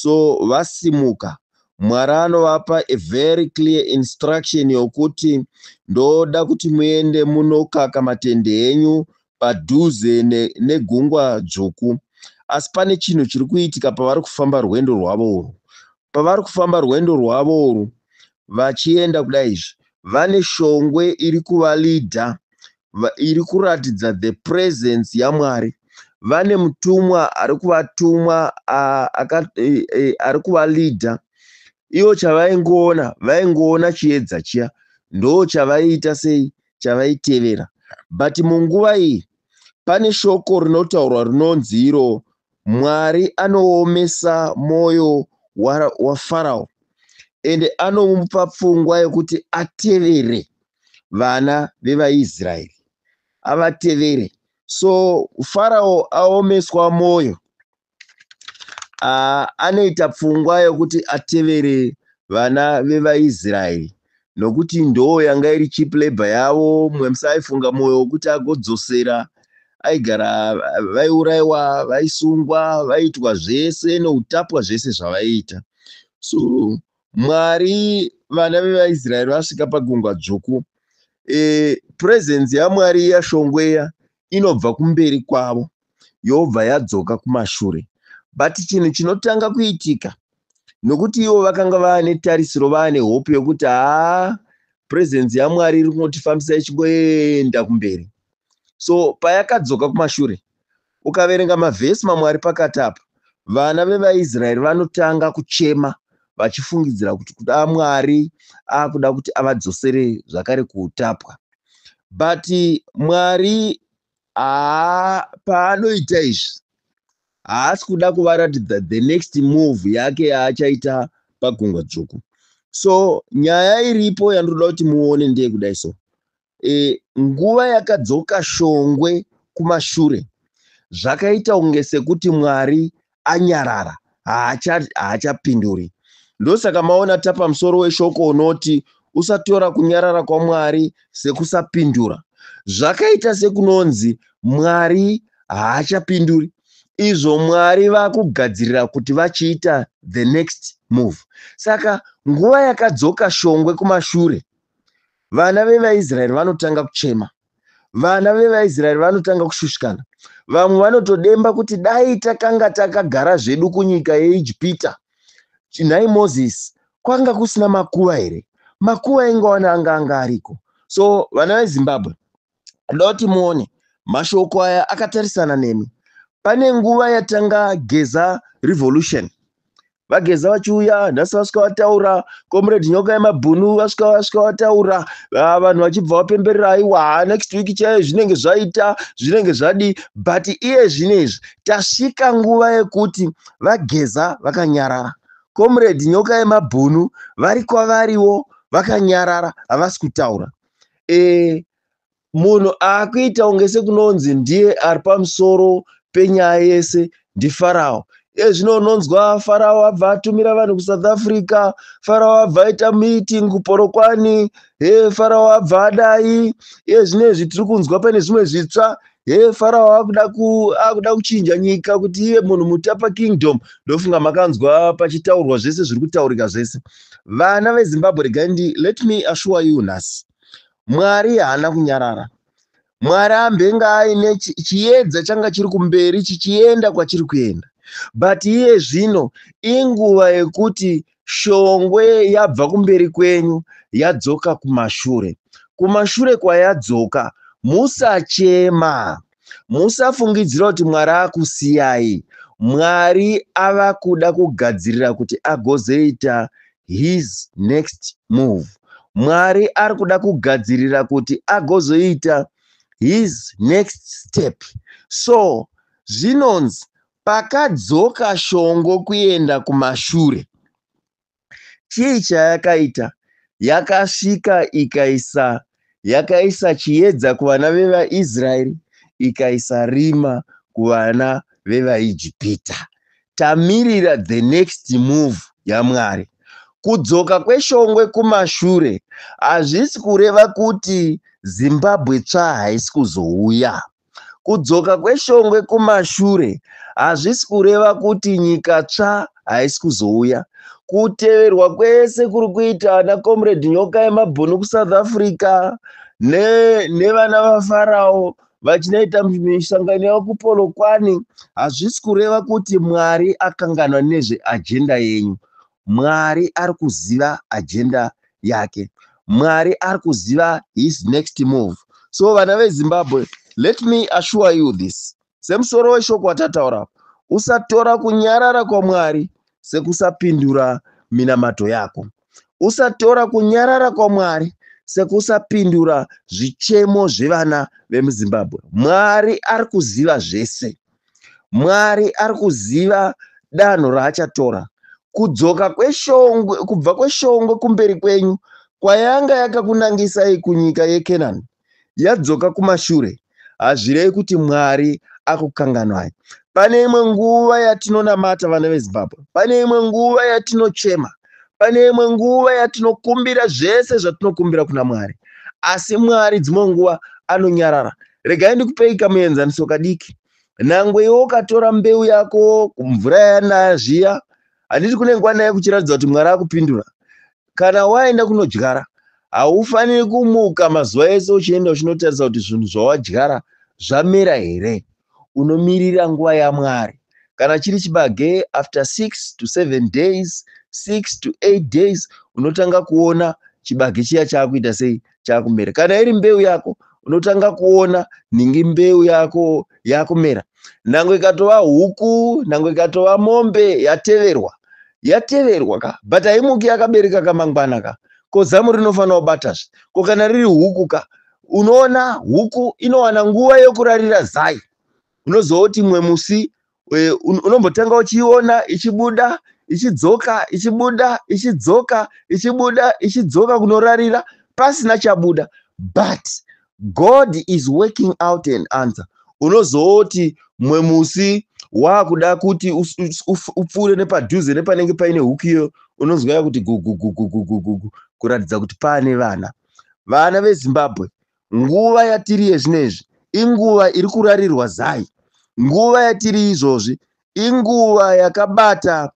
so vasimuka Mwari anovapa a very clear instruction yokuti ndoda kuti muende munokaka matende enyu padhuze ne, negungwa dzvuku asi pane chinhu chiri kuitika pavari kufamba rwendo rwavo urwu pavari kufamba rwendo rwavo urwu vachienda kudai izvi vane shongwe iri kuvalidha iri kuratidza the presence yaMwari. Vane mutumwa ari kuvatumwa e, e, ari kuvaleader. Ivo chavaingoona vaingoona chiedza chiya ndo chavaiita sei chavaitevera but munguva iyi pane shoko rinotaurwa rinonzi iro mwari anoomesa mwoyo wafarao ende anomupa pfungwa yekuti atevere vana vevaIsraeri avatevere. So Farao aomeswa mwoyo, anoita pfungwa yokuti atevere vana vevaIsraeri nokuti ndoo yanga iri cheap labor yavo. Mumwe musi aifunga mwoyo wokuti agodzosera aigara vaiurayiwa vaisungwa vaiitwa zvese noutapwa zvese zvavaiita so Mwari vana vevaIsraeri vasvika pagungwa dzvuku e, presence yaMwari iya shongweya inobva kumberi kwavo yobva yadzoka kumashure but chinhu chinotanga kuitika nokuti ivo vakanga vaane tarisiro vaane hope yokuti haa presence yaMwari iri kungotifambisa ichingoenda kumberi so payakadzoka kumashure Ukaverenga mavhesi mamwe ari pakati apa, vana vevaIsraeri vanotanga kuchema vachifungidzira kuti kuda Mwari akuda kuti avadzosere zvakare kuutapwa. But Mwari haa paanoita izvi haasi kuda kuvaratidza the next move yake yaachaita pagungwa dzvuku. So nyaya iripo yandinoda kuti muone ndeyekudai so. e, nguva yakadzoka shongwe kumashure zvakaita kunge sekuti mwari anyarara haachapinduri haacha ndosaka maona tapa musoro weshoko unoti usatora kunyarara kwamwari sekusapindura zvakaita sekunonzi mwari haachapinduri izvo mwari vakugadzirira kuti vachiita the next move saka nguva yakadzoka shongwe kumashure vana vevaisraeri vanotanga kuchema vana vevaisraeri vanotanga kushushikana vamwe vanotodemba kuti dai takanga takagara zvedu kunyika yeijipita nhai mozisi kwanga kusina makuva here makuva aingawana anga anga ariko so vana vezimbabwe ndoda kuti muone mashoko aya akatarisana nemi pane nguva yatanga geza revolution vageza vachiuya nhasi vasvika vataura comrade nyoka yemabhunu vasvika vasvika vataura ah, vanhu vachibva vapemberera aiwa next week chaiye zvinenge zvaita zvinenge zvadi but iye zvinezvi tasvika nguva yekuti vageza vakanyarara comrade nyoka yemabhunu vari kwavariwo vakanyarara havasi kutaura e, munhu akuita kunge sekunonzi ndiye ari pamusoro penyaya yese ndifarao iye zvino unonzwa farao abva atumira vanhu kusouth africa farao abva aita meeting kuporokwani he farao abva adai iye zvino izvi tiri kunzwa pane zvimwe zvitsva he farao akuda ku akuda kuchinja nyika kuti iye munhu mutapa kingdom ndofunga makanzwa pachitaurwa zvese zviri kutaurika zvese vana vezimbabwe regai ndi let me assure you nhasi mwari haana kunyarara mwari ambenge aine chi- chiedza changa chiri kumberi chichienda kwachiri kuenda but iye zvino inguva yekuti shongwe yabva kumberi kwenyu yadzoka kumashure kumashure kwayadzoka musachema Musafungidzira kuti Mwari akusiyai. Mwari ava kuda kugadzirira kuti agozoita his next move. Mwari ari kuda kugadzirira kuti agozoita his next step. So zvinonzi pakadzoka shongo kuenda kumashure. Chii chayakaita? Yakasvika ikaisa yakaisa chiedza kuvana vevaIsraeri, ikaisa rima kuvana vevaIjipita. Tamirira the next move yaMwari. Kudzoka kweshongwe kumashure hazvisi kureva kuti Zimbabwe tsva haisi kuzouya. Kudzoka kweshongwe kumashure hazvisi kureva kuti nyika tsva haisi kuzouya. Kuteverwa kwese kuri kuita ana Comrade Nyoka yemabhunu kuSouth Africa ne, nevana vaFarao vachinoita misangano yavo kupolokwani hazvisi kureva kuti Mwari akanganwa nezveajenda yenyu. Mwari ari kuziva ajenda yake mwari ari kuziva his next move so vana vezimbabwe let me assure you this semusoro weshoko watataura usatora kunyarara kwamwari sekusapindura minamato yako usatora kunyarara kwamwari sekusapindura zvichemo zvevana vemuzimbabwe mwari ari kuziva zvese Mwari ari kuziva danho raachatora. Kudzoka kweshongwe kubva kweshongwe kumberi kwenyu kwayanga yakakunangisai kunyika yeKenani yadzoka kumashure hazvirei kuti Mwari akukanganwai. Pane imwe nguva yatinonamata vana veZimbabwe, pane imwe nguva yatinochema, pane imwe nguva yatinokumbira zvese zvatinokumbira kuna Mwari, asi Mwari dzimwe nguva anonyarara regai ndikupei kamuenzaniso kadiki nangwe iwe ukatora mbeu yako kumvura yanaya zviya handiti kune nguva naye kuchiratidza kuti mwari akupindura kana waenda kunodyara haufaniri kumuka mazuva ese uchienda uchinotarisa kuti zvinhu zvawadyara zvamera here unomirira nguva yamwari kana chiri chibage after 6 to 7 days 6 to 8 days unotanga kuona chibage chiya chaakuita sei chakumera kana iri mbeu yako unotanga kuona nhingi mbeu yako yakumera nangwe ikatova huku nangwe ikatova mombe yateverwa yateverwa ka but haimuki yakabereka kamangwana ka ko zamu rinofanira kubatazve ko kana riri huku ka unoona huku inowana nguva yokurarira zai unozoti imwe musi eh, un- unombotenga uchiiona ichibuda ichidzoka ichibuda ichidzoka ichibuda ichidzoka kunorarira pasina chabuda but god is working out an answer unozooti mumwe musi waakuda kuti us- us- uf- upfuure nepadhuze nepanenge paine huku iyo unonzwa yakuti gugugugugugugu kuratidza kuti paane vana vana vezimbabwe nguva yatiri yezvinezvi inguva iri kurarirwa zai nguva yatiri izvozvi inguva yakabata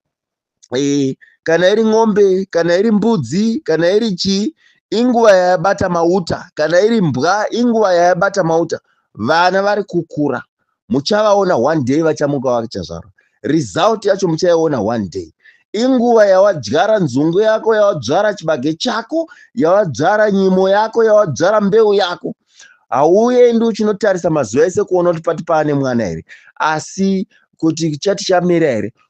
e, kana iri ng'ombe kana iri mbudzi kana iri chii inguva yayabata mauta kana iri mbwa inguva yayabata mauta vana vari kukura muchavaona one day vachamuka vachazvarwa result yacho muchaiona one day inguva yawadzvara nzungu yako yawadzvara chibage chako yawadzvara nyimo yako yawadzvara mbeu yako hauendi uchinotarisa mazuva ese kuona kuti pati paane mwana here asi kuti chati chamera here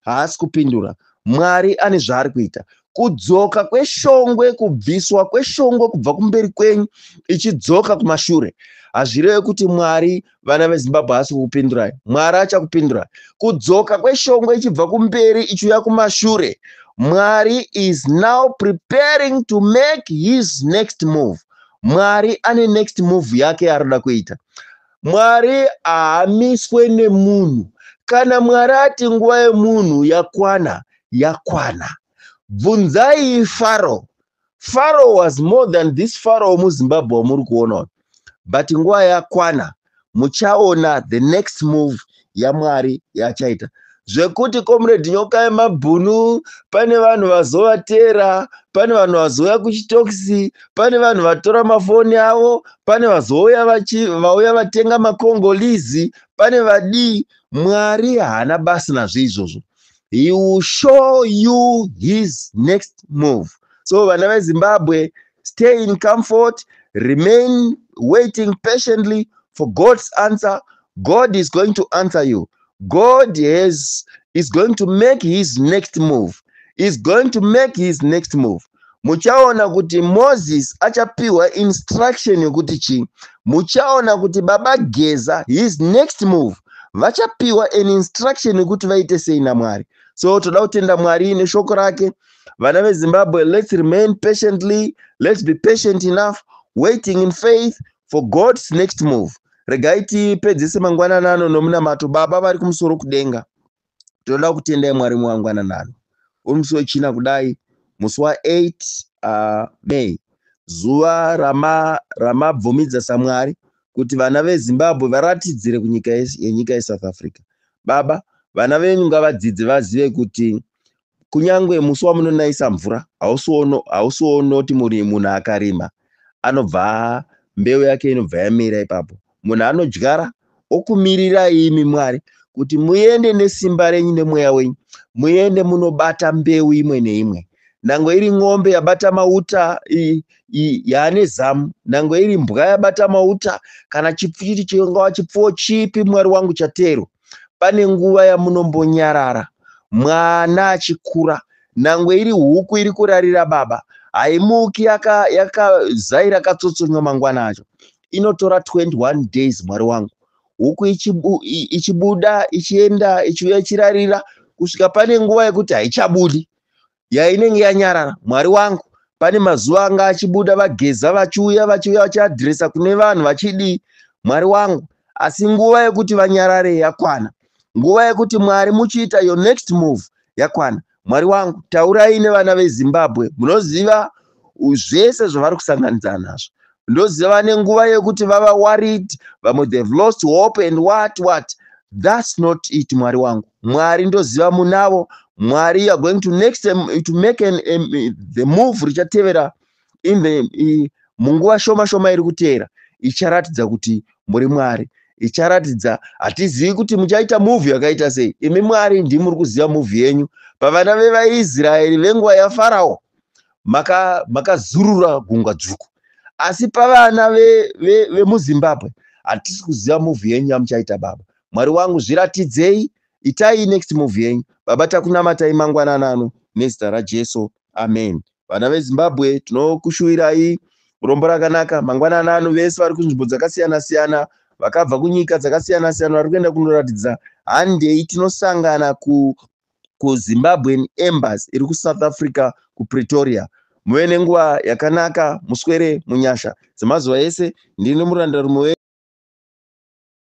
haasi kupindura mwari ane zvaari kuita kudzoka kweshongwe kubviswa kweshongwe kubva kumberi kwenyu ichidzoka kumashure hazvireve kuti mwari vana vezimbabwe haasi kukupindurai mwari achakupindurai kudzoka kweshongwe ichibva kumberi ichiuya kumashure mwari is now preparing to make his next move mwari ane next move yake yaari kuda kuita mwari haamiswe nemunhu kana mwari ati nguva yemunhu yakwana yakwana bvunzai faro faro was more than this faro muzimbabwe wamuri kuona but nguva yakwana muchaona the next move yamwari yachaita zvekuti comrade nyoka yemabhunu pane vanhu vazovatera pane vanhu vazouya kuchitokisi pane vanhu vatora mafoni avo pane vazouya vauya vatenga makongolizi pane vadii mwari haana basi nazvo izvozvo he will show you his next move so vana vezimbabwe Stay in comfort, remain waiting patiently for God's answer. God is going to answer you. God has, is going to make his next move. Is going to make his next move. muchaona kuti moses achapiwa instruction yokuti chii muchaona kuti baba geza his next move vachapiwa an instruction yekuti vaite sei namwari so toda kutenda mwari neshoko rake vana vezimbabwe let's remain patiently let's be patient enough waiting in faith for god's next move regai tipedzise mangwanana ano nomunamato baba vari kumusoro kudenga tinoda kutendai mwari umwe wangwanana ano uri musi wechina kudai musi wa8 uh, may zuva ramabvumidza rama samwari kuti vana vezimbabwe varatidzire kunyika yenyika yesouth africa baba vana venyu ngavadzidze vazive kuti kunyangwe musi wamunonayisa mvura hausi wonoti munhu akarima anobva mbeu yake inobva yamira ipapo munhu anodyara okumirirai imi mwari kuti muende nesimba renyu nemweya wenyu muende munobata mbeu imwe neimwe nangwe iri n'ombe yabata mauta yaane zamu nangwe iri mbwa yabata mauta kana chipfuchiti chingava chipfuwo chipi mwari wangu chateerwa pane nguva yamunombonyarara mwana achikura nangwe iri huku iri kurarira baba haimuki yakazai rakatsotsonywa mangwana acho inotora 21 days mwari wangu huku ichibuda ichienda ichiuya ichirarira kusvika pane nguva yekuti haichabudi ya inenge yanyarara mwari wangu pane mazuva anga achibuda vageza vachiuya vachiuya vachiadhiresa kune vanhu vachidii mwari wangu asi nguva yekuti vanyarare yakwana nguva yekuti mwari muchiita your next move yakwana mwari wangu taurai nevana vezimbabwe munoziva u- zvese zvavari kusanganidzana nazvo ndoziva vane nguva yekuti vava worried vamwe they've lost hope and what what that's not it mwari wangu mwari ndoziva munavo mwari you are going to next um, to make an, um, the move richatevera in the i- munguva shoma shoma iri kuteera icharatidza kuti muri mwari icharatidza hatizivi kuti muchaita muvhi yakaita sei imi mwari ndimi muri kuziva muvhi yenyu pavana vevaisraeri venguva yafarao maka makazurura gungwa dzvuku asi pavana vemuzimbabwe ve, ve hatisi kuziva movie yenyu yamuchaita baba mwari wangu zviratidzei itai next movie yenyu baba takunamatai mangwanana ano nezita rajesu amen vana vezimbabwe tinokushuwirai rombo rakanaka mangwanana ano vese vari kunzvimbo dzakasiyana siyana vakabva kunyika dzakasiyana siyana vari kuenda kunoratidza handei tinosangana ku, kuzimbabwean embassy iri kusouth africa kupretoria muve nenguva yakanaka muswere munyasha dzemazuva ese ndini murandarume